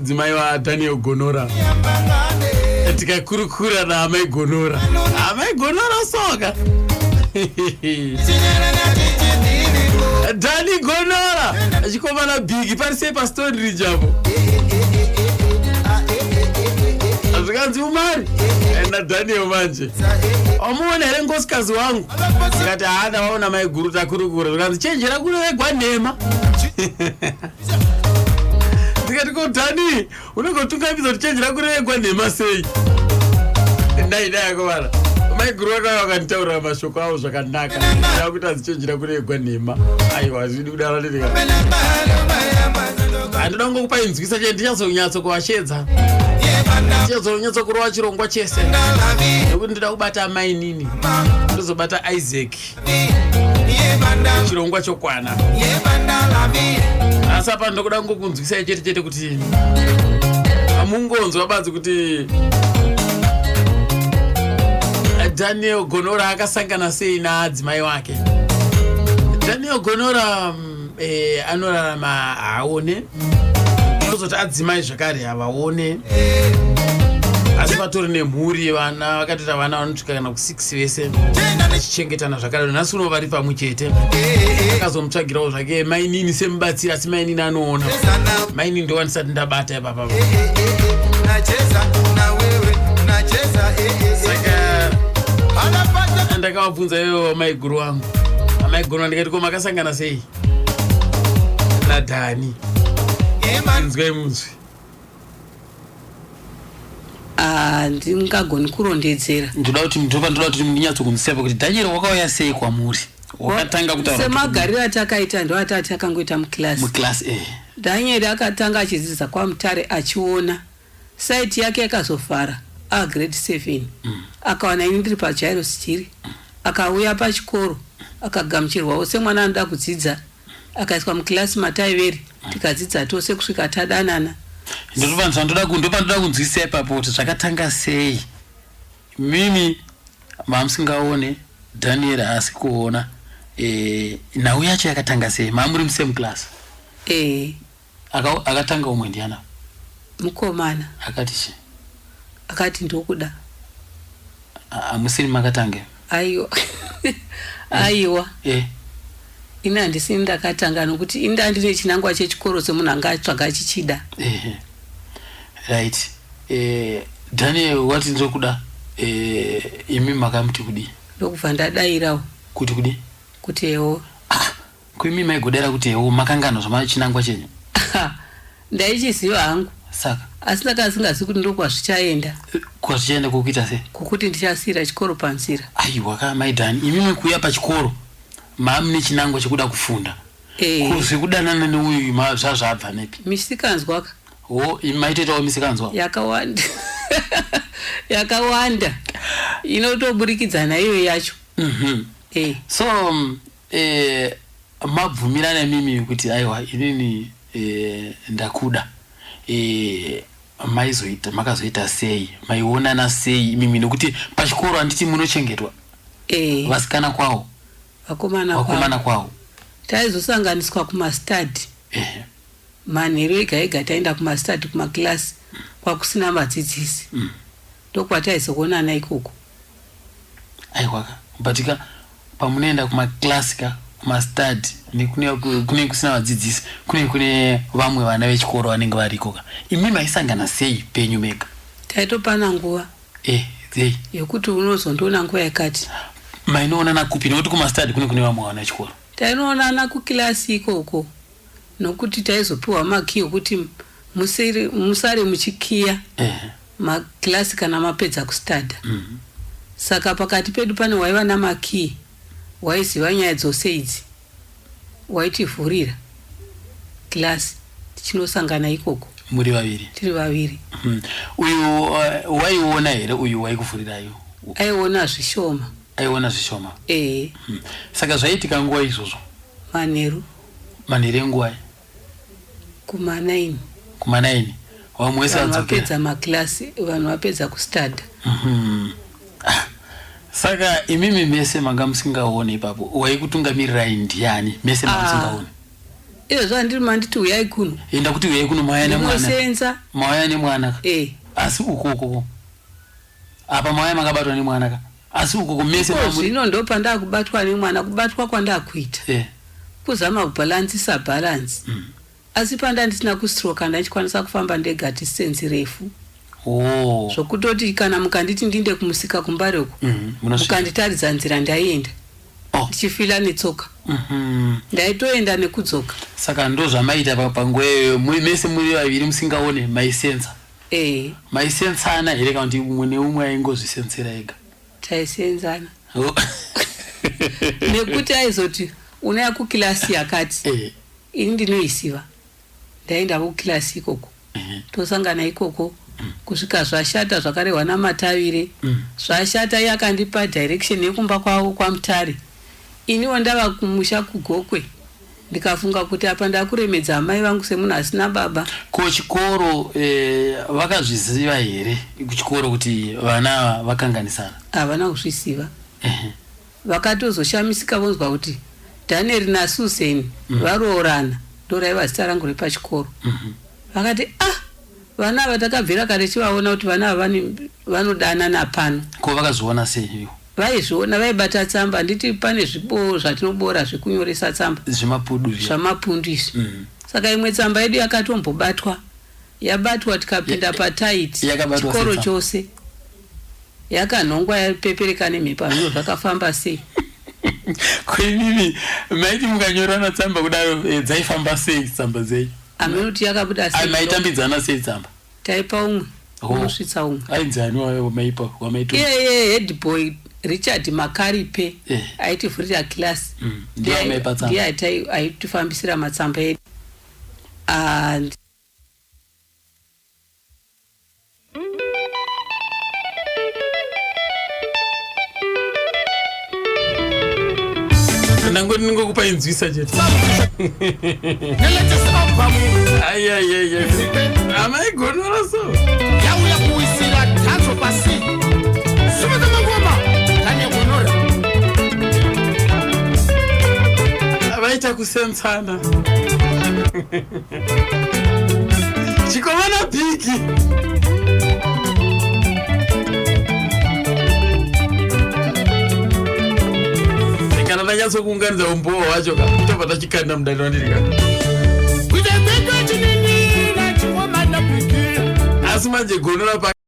mudzimai wadaniel gonora tikakurukura naamai gonora amai gonora soka dani gonora achikomana bigi parisei pastori rijapo zvikanzi umari enda daniel manje wamuona here ngosikazi wangu ikati haana waona maiguru takurukura zvikanzi chenjera kuno vegwa nhema ndikati ko dhani unenge utungamidza kuti chenji rako rinengwa nhema sei ndai dai akovana maiguru vakauya vakanditaurira mashoko avo zvakanaka aa kuti azichenjera kuregwa nhema aiwa hazvidi kudaro ndirika handida kunge kupa inzwisa chete ndichazonyatso kuvashedza ndichazonyatso kurova chirongwa chese nekuti ndida kubata amainini ndozobata isaac chirongwa chokwana asi apa ndokuda kungokunzwisai chete chete kuti hamungonzwa badzi kuti daniel gonora akasangana sei naadzimai wake daniel gonora mm, eh, anorarama haaone tozoti adzimai zvekare havaone asi vatori nemhuri vana vakatoita vana vanosvika kana kusix vese vachichengetana zvakare nhasi uno vari pamwe chete akazomutsvagirawo zvake mainini semubatsiri asi mainini anoona mainini ndovanisati ndabata baba ndakavabvunza ivo amaiguru wangu amaiguru andikati ko makasangana sei nadhani nzwai munzwi handingagoni ah, kurondedzera ndoda kuti ndoda kuti ndinyatso kunziseva kuti dhanyero wakauya sei kwamuri wakatanga kutaura semagariro atakaita ndo atati akangoita muclass muclass eh Daniel akatanga achidzidza kwamutare achiona site yake yakazovhara a grade 7 mm. akawana ini ndiri pajairo sijiri mm. akauya pachikoro akagamuchirwawo semwana anoda kudzidza akaiswa muclass mataiveri mm. tikadzidza tose kusvika tadanana ndotovanzvandoda kunzwisisa ipapo kuti zvakatanga sei mimi Mamusingaone Daniel haasi kuona eh, nhau yacho yakatanga sei? Mamuri musame class? Eh. Aka, akatanga umwe ndiana? Mukomana. Akati chi? Akati ndokuda. Hamusiri makatange? Aiwa. Aiwa. Eh. Ini handisi ini ndakatanga nokuti ini ndanga ndine chinangwa chechikoro semunhu anga atsvaga achichida. Ehe. Right. Eh, Daniel wati ndiri kuda eh, imi makamuti kudii? Ndokubva ndadairawo Kuti kudii? kuti ewo. Ah, ko imi maigodaira kuti ewo makangano zvamachinangwa chenyu? Ndaichiziva hangu. Saka. Asi ndanga ndisingazivi kuti ndokwazvichaenda. Kwazvichaenda kwokuita sei? Kwokuti ndichasiira chikoro panzira. Aiwa ka mai Dani, imimi kuuya pachikoro mamune chinangwa chekuda kufunda. Eh. Ko zvekudanana neuyu ma zvazvabva nepi? Misikanzwa ka. Ho, imi maitoitawo misikanzwa? Yakawanda. Yakawanda. Inotoburikidza naiyo yacho. Mhm. Eh. So, mm, eh mabvumirana imimi kuti aiwa inini Eh ndakuda eh maizoita makazoita sei maionana sei imimi nokuti pachikoro handiti munochengetwa eh vasikana kwawo vakomana vakomana kwawo taizosanganiswa kumastadi eh manheru ega ega taenda kumastadi kumakilasi kwakusina vadzidzisi mm. ndokwataizoonana ikoko aiwaka but ka pamunoenda kumaclass ka kumastad nekunenge kusina vadzidzisi kunenge kune vamwe vana vechikoro vanenge variko ka imi maisangana sei penyu mega taitopana nguva eh, hey. yekuti unozondiona nguva yakati mainoonana kupi nekuti kumastad kune kune vamwe vana vechikoro tainoonana kukilasi ikoko nokuti taizopiwa makiyi okuti musare muchikiya uh -huh. ma class kana mapedza ku studer saka pakati pedu pane waiva nama key waiziva nyaya dzose idzi waitivhurira class tichinosangana ikoko muri vaviri tiri vaviri Hmm. uyu uh, waiona here uyu waikuvhurirayo aiona zvishoma aiona zvishoma ehe Hmm. saka zvaiitika nguva izvozvo manheru manheru enguva kumanaini kumanaini vamwe wese vanhu vapedza maclass vanhu vapedza kustadha mm -hmm. ah. saka imimi mese manga musingaone ipapo waikutungamirai ndiani mese manga ah. musingaone iyo zva ndiri manditi uyai kuno enda kuti uyai kuno mawaya nemwana mawaya nemwana eh. asi ukoko Apa mawaya makabatwa nemwana ka asi ukoko mese mamuri. Ikozvino ndopandakubatwa nemwana kubatwa kwandakuita. Yeah. Kuzama kubalancisa balance. Mm. Asi pandandisina kustroka ndachikwanisa kufamba ndega distance refu. Oh. Zvokutoti kana mukanditi ndinde kumusika kumbare uko. Mm -hmm. Mukanditaridza nzira ndaienda. Oh. Ndichifila netsoka. Mm -hmm. Ndaitoenda nekudzoka. Saka ndozvamaita panguva iyoyo mese muri vaviri musingaone maisenza. Ehe. Maisensana here kana kuti umwe neumwe aingozvisensera ega? Taisenzana. Oh. Nekuti aizoti unouya kukilasi yakati. Ehe. Ini ndinoiziva. Ndaiendavo kukilasi ikoko. Ehe. Tosangana ikoko kusvika zvashata zvakarehwa naMatavire. Mm. Zvashata iye akandipa direction yekumba kwavo kwaMutare. Iniwo ndava kumusha kuGokwe. Ndikafunga kuti apa ndakuremedza amai vangu semunhu asina baba. Ko chikoro eh, vakazviziva here kuchikoro kuti vana ava vakanganisana? Havana kuzviziva. Ehe. Vakatozoshamisika vonzwa kuti Daniel naSusan mm. varoorana ndoraiva zita rangu repachikoro. Mm -hmm. Vakati ah vana ava takabvira kare tichivaona kuti vana ava vanodanana pano. Ko vakazoona sei ivo? Vaizviona vaibata tsamba handiti pane zvipo zvatinoboora zvekunyoresa tsamba. Zvemapudu zviya. Zvamapundu izvi. Mm. Saka imwe tsamba yedu yakatombobatwa yabatwa tikapinda patight chikoro chose yakanhongwa yapepereka nemhepo hamino zvakafamba sei kwenini maiti mukanyorana tsamba kudaro eh, dzaifamba sei tsamba dzenyu ameno kuti yakabuda sei maitambidzana sei tsamba taipa umwe unosvitsa umwe ainzi ani wamaipa wamaitu iyeye head boy richard makaripe eh. aitivhurira class mm. ndiye aitifambisira matsamba edu and ndango ndingokupa inzwisa chete amaigonora so yauya kuwisira tanzo pasi sumudza mangoma kane gonora vaita kusensana chikomana bhiki kana ndanyatsokuunganidza umbowo wacho ka tobva tachikanda mudani wandiri ka asi manje gono rapa